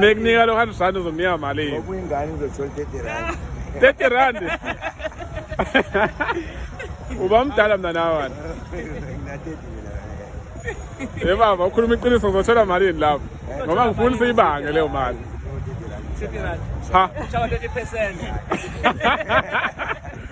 mekunika lo hundred rand uzomnika malini ngoba uyingane uzothola thirty rand thirty rand uba mdala mna nawana e baba ukhuluma iqiniso ngizothola malini lapho ngoba ngifuni siyibange leyo mali ha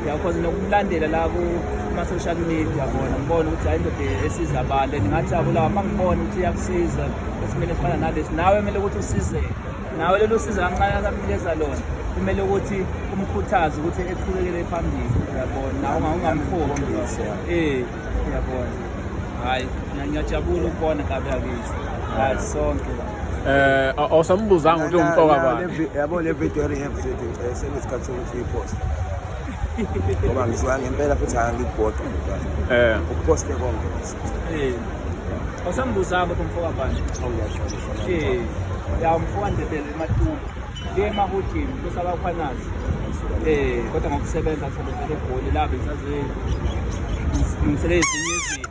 Ngiyakwazi nokulandela la kuma-social media bona ngibona ukuthi hayi ndoda esiza abantu and ngajabula uma ngibona ukuthi iyakusiza esimele efana nalesi nawe kumele ukuthi usizeke nawe lelo siza kancane akakunikeza lona kumele ukuthi umkhuthaze ukuthi eqhubekele phambili uyabona nawe ungamkhombi um uyabona hhayi ngiyajabula ukubona kabe akithi hhayi sonke Eh awusambuzanga ukuthi umfoka bani. Yabo le video eyenze sengisikhathi Iposta. Ngoba ngisuka ngempela futhi angikugoqa ngoba. Eh. Ukuposte konke. Eh. Awusambuzanga ukuthi umfoka bani? Awuyashona. Eh. Ya umfoka ndebele ematulu. Ke mahotini kusaba khwanazi. Eh, kodwa ngokusebenza kusebenzele egoli la besazi. Ngimsele izinye izinto.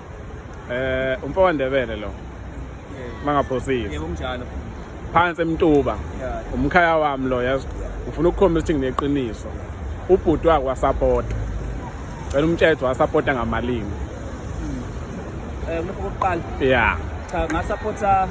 eh umfo wandebele lo mangaphosile yebo kunjalo phansi emtuba umkhaya wami lo yazi ufuna ukukhombisa ukuthi ngineqiniso ubhuti wakhe wasapota cela umtshetho wasapota ngamalimi um eh, lokho kokuqala ya cha ngasapota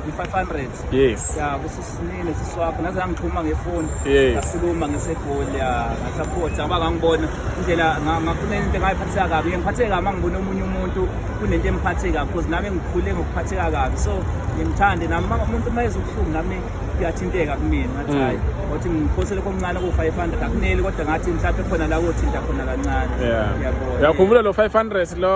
i-500 yes ya kusisinile siswapho naze ngangixhuma ngefoni yes ngakhuluma ngesegoli ya ngasaphotha ngoba ngangibona indlela ngakhuluma into engayiphatheka kabi ngiphatheka kabi ngibona omunye umuntu kunento emphathe kabi because nami ngikhule ngokuphatheka kabi so ngimthande nami umuntu uma ezobuhlungu nami kuyathinteka kumina ngathi mm. hayi ngothi ngiphosele komncane ko-500 akuneli kodwa ngathi mhlawumbe khona la kothinta khona kancane uyakhumbula lo 500 lo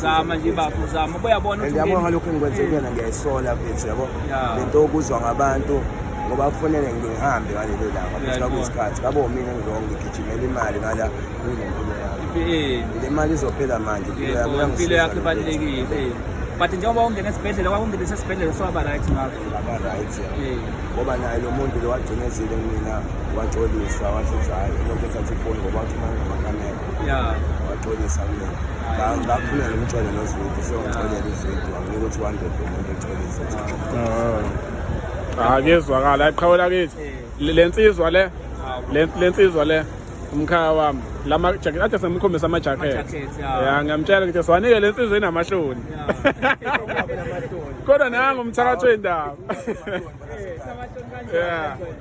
zama nje bafo zama ubuyabona and yabo ngalokho engikwenze kuyena ngiyayisola mfethu yabo lento okuzwa ngabantu ngoba kufanele ngihambe ngalelo langa futhi kwakuyisikhathi ngabo mina ngilongo ngigijimela imali ngala kuyinempilo yami le mali izophela manje impilo yakho ibalulekile but njengoba ungena esibhedlela kwakungene sesibhedlela sowaba right ngakho ngaba right ngoba naye lo muntu lo wagcinezile mina waxolisa washo ukuthi hhayi lokhu ethatha ifoni ngoba wathi uma ngamakamera yeah waxolisa mina ngafunela umxolela nozwidi so ngixolela uzwidi wanginika ukuthi wandede umuntu exolisa ah. ah kuyezwakala qhawela kithi eh. le nsizwa le ah, le nsizwa le umkhaya wami lama jacket athi semkhombisa ama jacket ya ngamtshela ngithi siwanike le nsizwa inamahloni kodwa nangu umthakathi wendaba eh, yeah